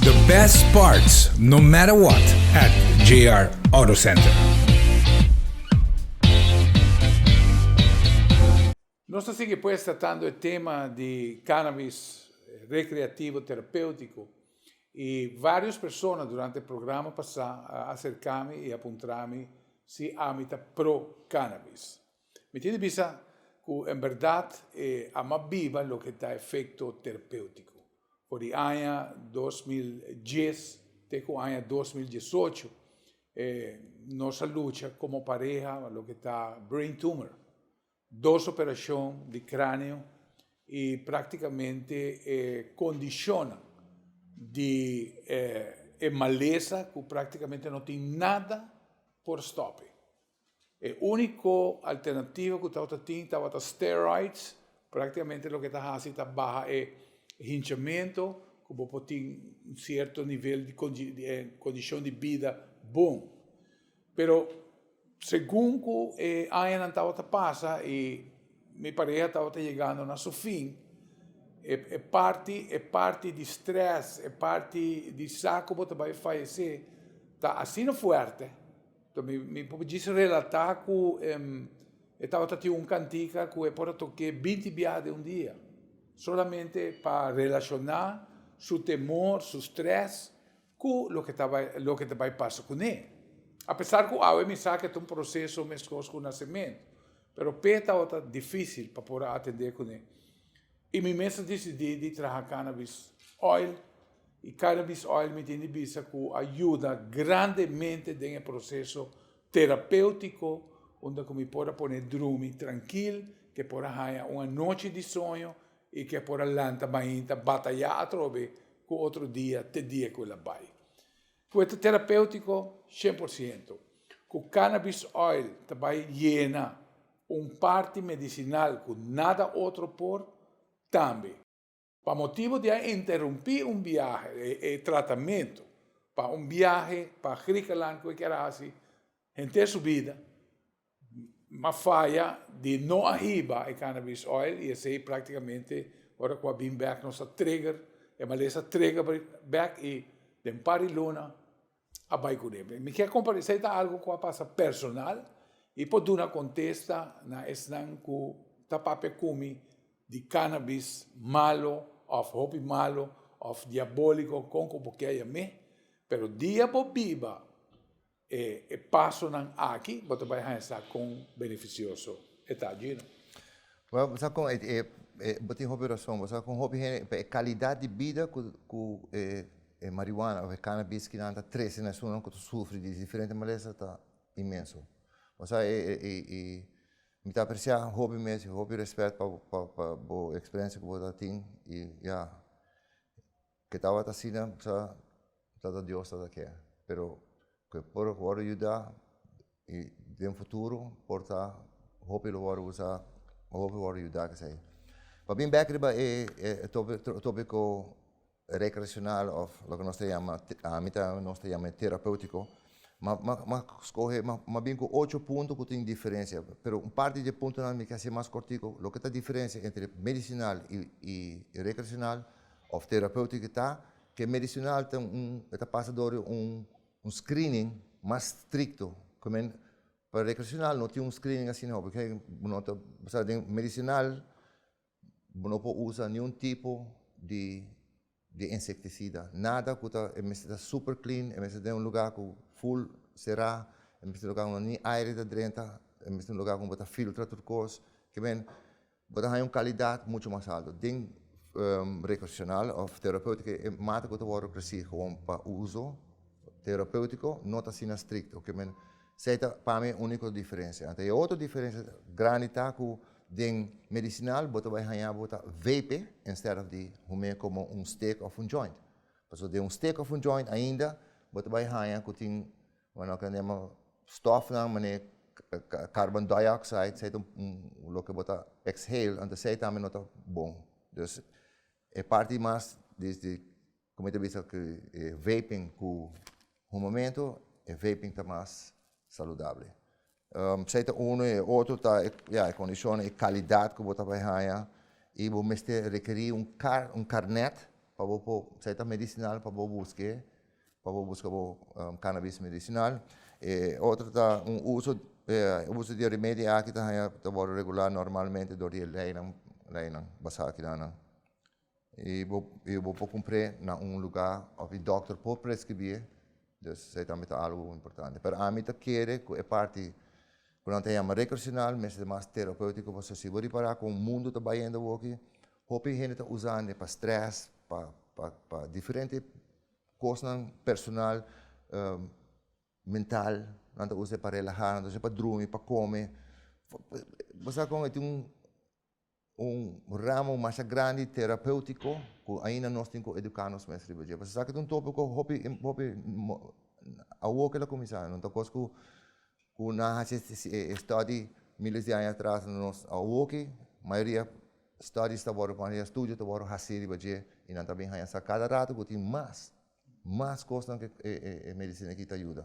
The best parts no matter what at JR Auto Center. Nos ta sigui pues tratando e tema di cannabis recreativo terapeutico y varios persona durante e programa pasa a acercami y a puntrami si ami ta pro cannabis. Mi tin di bisa cu en berdad e ama biba loke ta efecto terpeutico. For di aña dos mil dies te cu aña dos mil diesocho e nos a lucha como pareha pa loke ta brain tumor, dos operacion di craneo y practicamente e condicionnan di e malesa cu practicamente no tin nada por stope. E úniko alternativo ku tabata tin tabata steroids, práktikamente loke ta hasi ta baha e hinchamentu ku bo por tin un sierto nivel di kondishon di bida bon. Pero segun ku e añanan tabata pasa i mi pareha tabata yegando na su fin, e parti e parti di strès, e parti di sa ku bo ta bai fayesé ta asina fuerte Mi por djis relatá ku e tabata tin un kantika ku e por a tok'é binti biaha den un dia, solamente pa relashoná su temor, su strès ku loke ta bai loke ta bai pasa kuné. A pesar ku awe mi sa ku e ta un proseso meskos ku nasementu, pero p'e tabata difísil pa por a atendé kuné. I mi mes a disidí di traha cannabis oil i cannabis oil mi tin di bisa cu a yuda grandemente den e proceso terapeutico unda cu mi por a pone drumi trankil, ke por a haña un anochi di soño i ke por a lanta mainta batayá atrobe cu otro dia te dia cu el a bai. Puerta terapéutiko shen por siento ku cannabis oil ta bai yena un parti medisinal ku nada otro por, tambe. Pa motibu di a interumpí un biahe, e tratamentu pa un biahe pa Griekenland ku e kier hasi henter su bida, Ma faya di no a hiba e cannabis oil y esey practicamente ora cu a bin bek nos a trigger e malesa trigger bek y den par di luna a bay cune. Mi kier comparti esey ta algo cu a pasa personal y por duna contesta na esnan cu ta papia cu mi di cannabis malo of hopi malo of diabolico con cu bo kier yam'e pero dia bo biba E pasonan aki bo ta bai haña sa kon benefisioso e ta djina. Bo sa kon e, bo tin hopi rason, bo sa kon hopi hende, pa e kalidat di bida ku e marihuana of e cannabis ki nan ta trese na esunnan ku ta sufri di diferente malesa ta inmenso. Bo sa i mi ta apresia hopi mes, hopi respet pa bo eksperensia ku bo ta tin i ya. Ke tabata asina sa Tata Dios tata ke, pero ke por wòrdu yuda i den futuro por ta hopi lo wòrdu usa hopi lo wòrdu yuda esei. Pabia bèk riba e topiko rekreashonal òf loke nos ta yama ami ta nos ta yama terapeutiko ma skohe ma bin ku ocho punto ku tin diferensia pero un parti di e puntonan mi ke hasi mas kòrtiku loke ta diferensia entre medisinal i rekreashonal Of terapeutic e ta, cu e medicinal ta un, e ta pasa dor un un screening mas stricto, cu men pa recreacional no tin un screening asina ho, porque bo no ta, bo sa den medicinal bo no por usa ni un tipo di di insecticida, nada cu ta, e mester ta super clean, e mester ta den un lugar cu full cera, e mester un lugar unda ni aire ta drenta, e mester un lugar cu bo ta filtra tur cos, cu men Bo ta haña un kalidat muchu mas altu den rekreashonal òf terapeutiko. E mata ku ta wòrdu ofresí gewoon pa uso terapeutiko no ta asina strikto. Esei ta pa mi e úniko diferensia. Anto e otro diferensia grandi ta ku den medisinal bo ta bai haña bo ta vepe instead of di hum'é komo un stik òf un joint. Pasobra den un stik òf un joint ainda bo ta bai haña ku tin Bo no kendema stofnan manera carbon dioxide sey ta un loke bo ta exhale anto sey tambe no ta bon dus e parti mas di di como ta bisa ku e vaping ku humamento e vaping ta mas saludable. Esei ta unu i e otro ta ya e kondishonnan, e kalidat ku bo ta bai haña i bo mester rekerí un kar un karnèt pa bo por esei ta medisinal pa bo buska e pa bo buska bo kanabis medisinal e otro ta un uso uso di e remedio aki ta haña ta wòrdu regulá normalmente dor di e leinan leinan basá kidan nan. I bo i bo por kumpr'é na un lugá òf e dòkter por preskribié. Dus esei tambe ta algu importante. Pero ami ta kere ku e parti ku nan ta yama rekreasional mester mas terapéutiko pasobra si bo ripará kon mundu ta bayendo awoki, hopi hende ta usande pa strès, pa pa pa diferente kosnan personal, mental, nan ta us'é pa relahá, nan ta us'é pa drumi, pa kome. Bo sa kon e tin un. un ramo masha grandi terapeutiko ku ainda nos tin ku eduká nos mes riba dje. Pasasaki ta un topiko hopi hopi awo ke lo kuminsá, no ta kos ku ku nan a hasi e stòdi miles di aña atras, nos awoki mayoria stòdis ta wòrdu mayoria estudio ta wòrdu hasi riba dje i nan ta bin haña sa kada ratu ku tin mas mas kosnan ke e medisina aki ta yuda.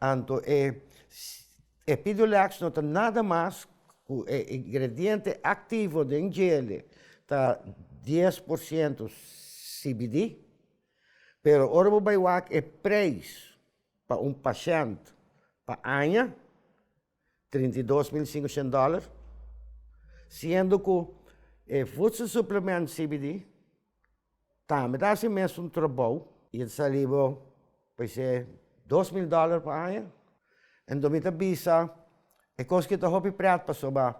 Anto e Epidiolex no ta nada mas ku e ingrediente aktivo den jele ta dies por siento CBD, pero ora bo bai wak e preis pa un pashènt pa aña trinta i dos mil singushent dòler, siendo ku e vudselsupliment CBD tambe ta hasi e mesun trobou. I e ta sali bo paisé dos mil dòler pa aña. Anto mi ta bisa e kos ku ta hopi prèt pasobra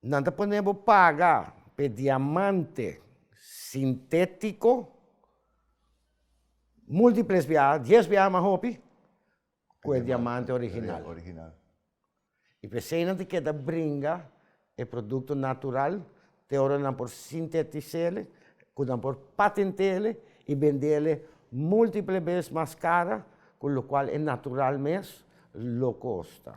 Nan ta pone bo paga pa e diamante sintétiko múltiples biaha, dies biaha mas hopi, ku e diamante original. Original. I p'esei nan ta keda bringa e produkto natural te ora nan por sintetis'é, ku nan por patent'é i bend'é múltiple bes mas kara ku lokual e natural mes lo kosta.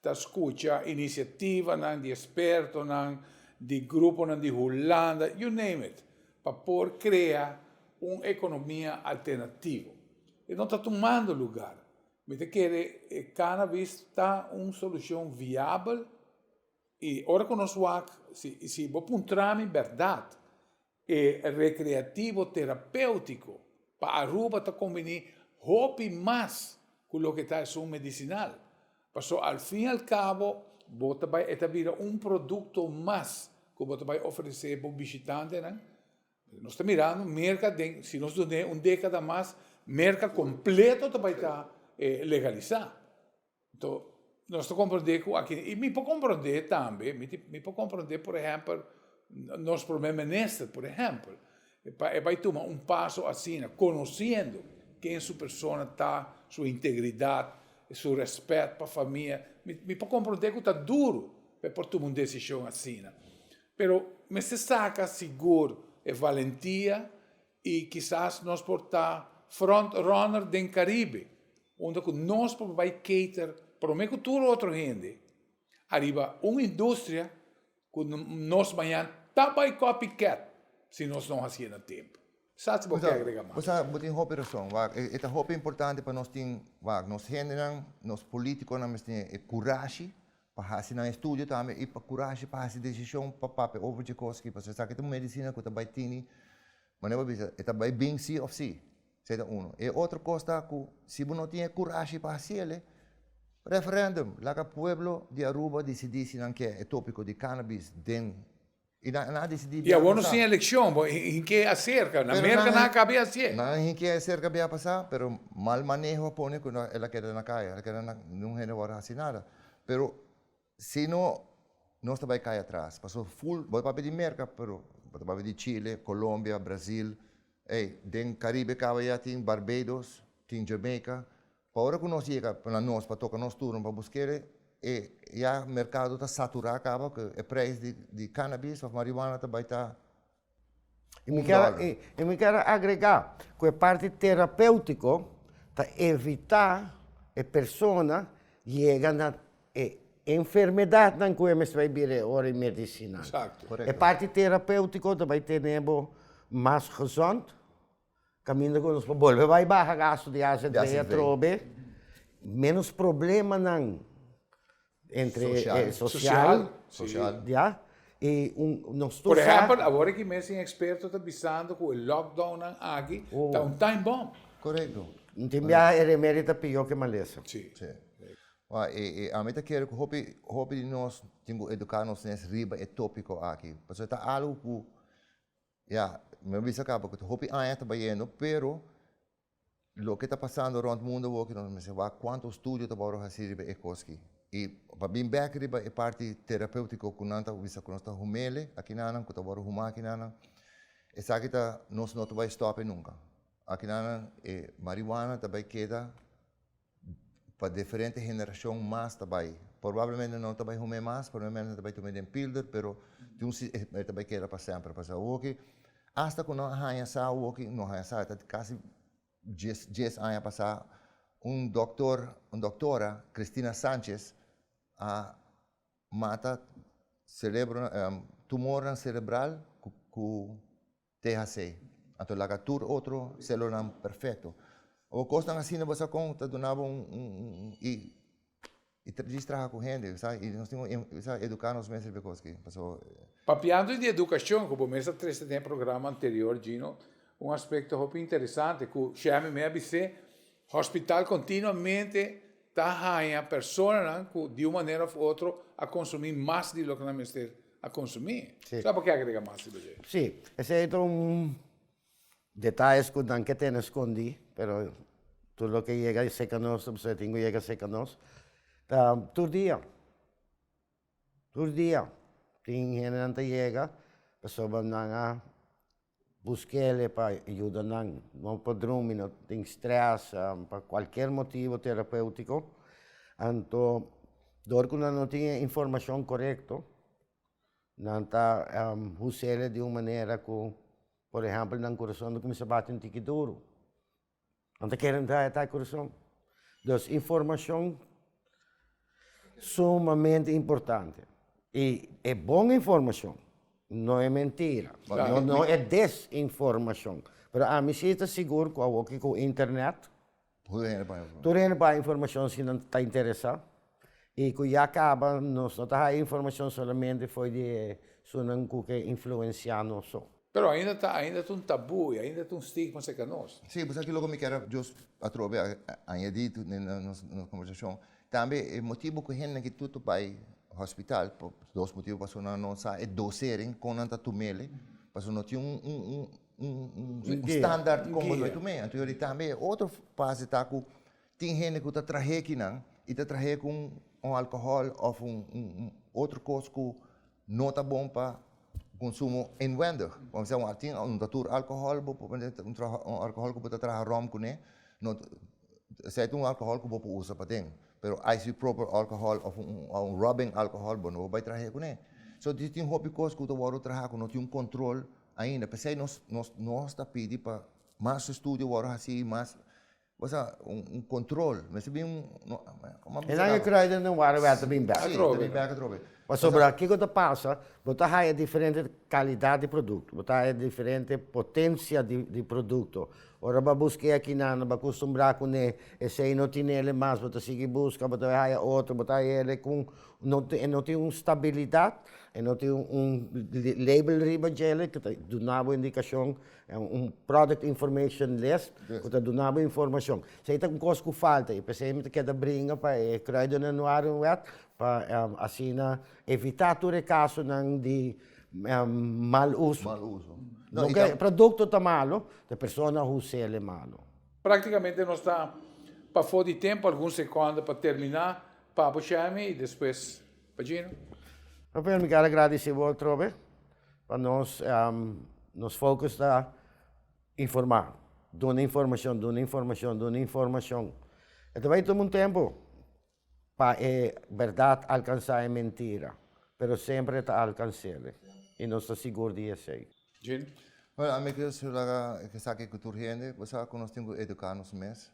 Ta scucha iniciativanan di expertonan, di gruponan di Hulanda, you name it, pa por crea un economia alternativo. E no ta tumando lugar. Mi ta kere e cannabis ta un solucion viabel y ora cu nos wak, si bo puntra mi berdad, E Rekreativo Terapéutiko pa Aruba ta kombiní hopi mas ku loke ta esun medisinal, paso al fin al kabo bo ta bai e ta bira un produkto mas ku bo ta bai ofresé bo bishitantenan. Nos ta mirando Merka den si nos dun'é un dékada mas Merka kompleto ta bai ta legalisá. Nto, nos ta komprondé ku aki, i mi por komprondé tambe, mi tin, mi por komprondé, por ehèmpel, nos promé minister, por ehèmpel, e bai, e bai tuma un paso asina, konosiendo ken su persona ta, su integridat, su rèspèt pa famia, mi, mi por komprondé ku ta duru pa e por tuma un desishon asina. Pero mester saka sigur e valentia I kisas nos por ta frontrunner den Caribe, unda cu nos por bai cater prome cu tur otro hende, ariba un industria cu nos mañan ta bai copycat si nos no haci'e na tempo. Sa si bo ke agrega mas? Bo sa, bo tin hopi rason, wak. E ta hopi importante pa nos tin, wak, nos hendenan, nos politiconan mester tin e curashi pa hasi nan estudio tambe i pa kurashi pa hasi desishon pa papia over dje kos aki pasobra esaki ta un medisina ku ta bai tini manera bo bisa e ta bai bin si òf si. Esei ta unu. E otro kos ta ku si bo no tin e kurashi pa hasi el, referendum, laga pueblo di Aruba disidí si nan ke e topiko di cannabis den Y nan a decidi bia pasa. Y awor nos tin eleccion, bo hinke acerca. Na Merca nan a cabe hacié. Nan a hinke acerca bia pasa, pero mal maneho a pone cu el a keda na caya. El a keda na un hende awor haci nada. Pero si no, nos ta bay cay atras. Pasobra full, bo ta papia di Merca, pero bo ta papia di Chile, Colombia, Brazil, ey, den Caribe caba ya tin Barbados, tin Jamaica. Pa ora ku nos yega na nos pa toka nos turno pa busk'e, e ya merkado ta saturá kaba ku e preis di kannabis òf marihuana ta bai ta un dòler. I mi ker a agregá ku e parti terapéutiko ta evitá e persona yega na e enfermedatnan ku e mester bai bira ora e medisinan. E parti terapéutiko ta bai tene bo mas gezond. Caminda cu nos por bolbe bay baha gasto di ase entre e atrobe, menos problemanan entre e social, ya, y nos ta usa. Por ehempel, awor aki mes tin experto ta bisando cu e lockdown nan aki ta un time bomb. Corecto. Tin biaha e remedio ta peor cu e malesa. Y ami ta kere cu hopi, hopi di nos tin cu educa nos nes riba e topico aki, pasobra ta algo cu Ya, mi a bisa kaba ku ta hopi aña ta bayendo, pero loke ta pasando rònt mundu awor ku nos mester wak kuantu studio ta wòrdu hasi riba e koski. I pa bin bèk riba e parti terapèutiko ku nan ta bisa ku nos ta humele akinanan, ku ta wòrdu humá akinanan, esaki ta nos no ta bai stòp e nunka. Akinanan e mariwana ta bai keda. pa diferente generashon mas ta bai. Porbablemente no ta bai hum'é mas, porbablemente ta bai tum'é den pilder, pero tin un si e ta bai keda pa semper. Pasobra awoki, asta ku no a haña sa awoki, no haña sa, ta kasi dies dies aña pasá, un doktor, un doktora, Cristina Sanchez, a mata serebro tumornan serebral ku. Te hasi, a ta laga tur otro celulanan perfecto. Awo cosnan asina bo sa con ta duna bo un y y ta precis traha cu hende, sa, y nos tin un y sa educa nos mes riba cos aki, pasobra. Papiando di educacion, cu bo mes a trece den e programa anterior, Gino, un aspecto hopi interesante cu Shemy me a bis'é, Hospital continuamente ta haña personanan cu di un manera of otro a consumi mas di loke nan mester a consumi. Si. Sa por ke a agrega mas riba dje? Si, esey ta un detalles cu nan ke tene scondi, pero tur loke yega cerca nos ta bisa tin cu yega cerca nos, ta tur dia, tur dia tin hendenan ta yega pasobra nan a Buskele pa yuda nan. No pa drumi, no tin stress, pa cualkier motivo terapeutico. Anto dor cu nan no tin e informacion corecto nan ta usele di un manera cu por ehempel nan curason ta cuminsa bati un tiki duru. Nan ta kere entra eta e kurason. Dus informashon sumamente importante. I e bon informashon, no e mentira, no e desinformashon. Pero ami si ta sigur ku awoki ku internet tur hende por hay informashon si nan ta interesá. Y cu ya caba nos no ta haya informacion solamente fo'i di e sunan cu ke influencia nos so. Pero ainda ta ainda ta un tabú y ainda ta un stigma cerca nos. Sí, bo sa kiloco mi quiero jus atrobe añadi den nos conversacion? Tambe e motibo cu hendenan ki tutu bay hospital, por dos motibo, pasobra nan no sa e dosering con nan ta tumele, pasobra no tin un standaard con bo debí tum'é. Anto yori tambe e otro fase ta cu Tin hende ku ta trahe kinan i ta trahe ku un alkohòl òf un otro kos ku no ta bon pa konsumo inwendig. Por mester un tin un ta tur alkohòl bo por mester un alkohòl ku bo ta traha ròm kuné no esei ta un alkohòl ku bo por usa paden pero isopropyl alkohòl òf un rubbing alkohòl bo no por bai trahe kuné. So di tin hopi kos ku ta wòrdu traha ku no tin un kontrol ainda p'esei nos nos ta pidi pa mas estudio wòrdu hasi i mas Bo sa un control mester bin un. Enan e krai den den wara wèt ta bin bèk. Si, ta bin bèk atrobe. Pasobra kiko ta pasa, bo ta haya diferente kalidat di produkto, bo ta haya diferente potensia di produkto, ora bo a buska e akinan nan bo a kustumbrá kuné, esei no tinele mas bo ta sigui buska, bo ta bay haya otro, bo ta haya ku no tin, e no tin un stabilidat, e no tin un label riba djele ku ta duna bo indikashon Un product information list ku ta duna bo informashon. Si ei ta un kos ku falta i p'esei mi ta keda bringa pa e Kruiden en Nuaren wet pa asina evitá tur e kasunan di mal uso. Mal uso. No ke produkto ta malu, ta e persona who sell e malu. Praktikamente nos ta pafó di tempu algun sekònda pa terminá Papo Shami i despues pa Gino. Rafael mi keda gradisé bo atrobe Pa nos nos focus ta informa duna informacion duna informacion duna informacion e ta bai tuma un tempo pa e berdad alcansa e mentira pero semper ta alcansele y nos ta sigur di esey. Jean, Bueno ami kier solo laga esaki cu tur hende bo sa cu nos tin cu educa nos mes.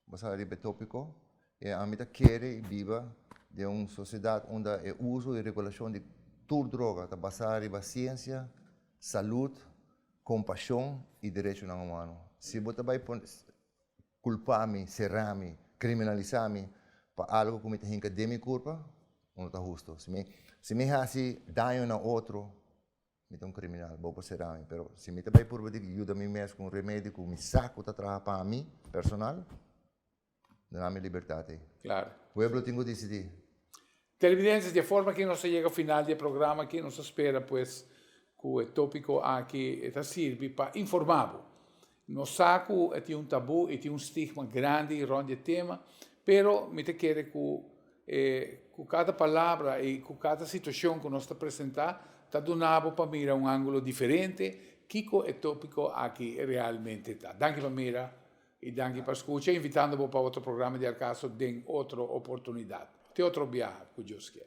Basá riba e tópiko e ami ta kere biba den un sosiedat unda e uso i regulashon di tur droga ta basá riba siensia, salud, kompashon i derechonan humano. Si bo ta bai kulpá mi, será mi, kriminalisá mi pa algu ku mi ta hinka den mi kurpa, bo no ta hustu. Si mi hasi daño na otro, Mi ta un kriminal, bo por sera mi, pero si mi ta bai purba di yuda mi mes ku un remedio ku mi sa ku ta traha pa mi personal, duna mi libertat ei. Claro. Pueblo tin ku disidi. Televidentes, di e forma aki nos a yega final di e programa aki. Nos a spera pues ku e topiko aki e ta sirbi pa informá bo. Nos sa cu e tin un tabú y tin un stigma grandi rond e tema, pero mi ta kere cu e cu cada palabra y cu cada situacion cu nos ta presenta ta duna bo pa mira un angulo diferente kico e topico aki realmente ta. Danki pa mira y danki pa scucha, invitando bo pa otro programa di Al Caso den otro oportunidad. Te otro biaha, cu Dios kier.